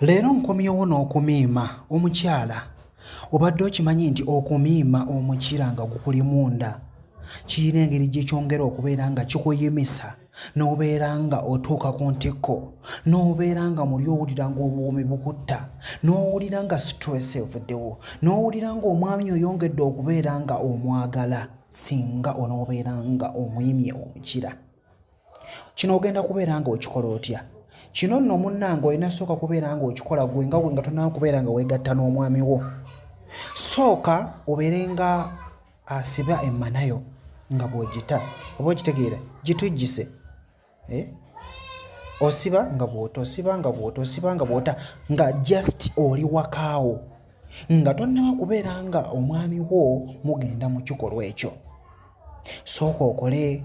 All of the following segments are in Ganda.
Leero nkomyewo n'okumiima omukyala obadde okimanyi nti okumiima omukira nga gukuli munda kirina engeri gye kyongera okubeera nga kikuyimisa n'obeera nga otuuka ku ntikko n'obeera nga muli owulira ng'obuwoomi bukutta n'owulira nga stress evuddewo n'owulira ng'omwami oyongedde okubeera nga omwagala singa onoobeera nga omuyimye omukira. kino ogenda kubeera nga okikola otya kino nno munnange olina sooka kubeera nga okikola gwe nga nga tonaa kubeera nga weegatta n'omwami wo sooka obeere nga asiba emmanayo nga bw'ogita oba okitegeera gitujjise eh? osiba nga bw'ota osiba nga bw'ota osiba nga bw'ota nga just oli wakaawo nga tonnaba kubeera nga omwami wo mugenda mu kikolwa ekyo sooka okole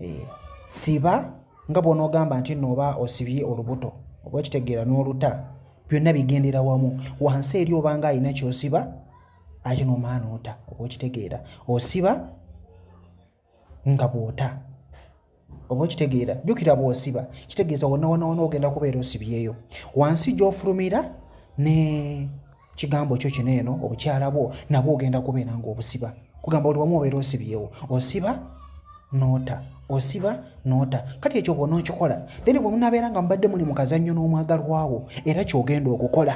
eh, siba nga bw'onoogamba nti nno oba osibye olubuto oba okitegeera n'oluta byonna bigendera wamu wansi eri obanga alina kyosiba ate n'omaana ota oba okitegeera osiba nga bw'ota oba okitegeera jjukira bw'osiba kitegeeza wonna wonna wona ogenda kubeera osibyeyo wansi gy'ofulumira ne kigambo kyo kino eno obukyala bwo nabwo ogenda kubeera nga obusiba kugamba oli wamu obeera osibyewo osiba noota osiba noota kati ekyo bwona okikola then bwe munabeera nga mubadde muli mukazannyo n'omwagalwawo era kyogenda okukola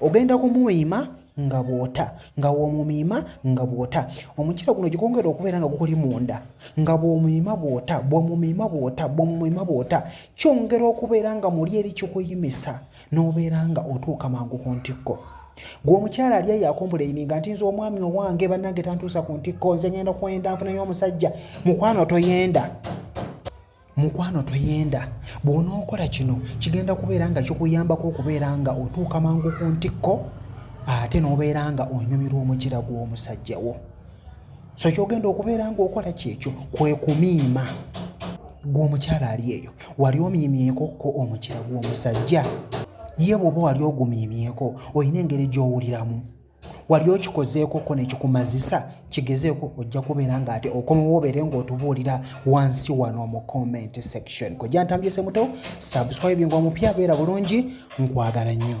ogenda kumumiima nga bwota nga womumiima nga bwota omukira guno gigongera okubeera nga gukuli munda nga bwomumiima bwota bwomumiima bwota bwomumiima bwota kyongera okubeera nga muli eri kikuyimisa n'obeera nga otuuka mangu ku ntikko gwe omukyala ali eyo akompulaini nga ntinza omwami owange bannange tantuusa ku ntikko nze ngenda kwenda nfunayo omusajja mukwano toyenda mukwano toyenda bw'onookola kino kigenda kubeera nga kikuyambako okubeera nga otuuka mangu ku ntikko ate n'obeera nga onyumirwa omukira gw'omusajja wo so kyogenda okubeera nga okola kyekyo kwe kumiima gw'omukyala ali eyo wali omiimyeko ko omukira gw'omusajja ye bwoba wali ogumiimyeko olina engeri gy'owuliramu wali okikozeeko ko nekikumazisa kigezeeko ojja kubeera nga ate okomawo obeere ngaotubuulira wansi wano mu comment section kojja ntambyese muto subscribe nga omupya beera bulungi nkwagala nnyo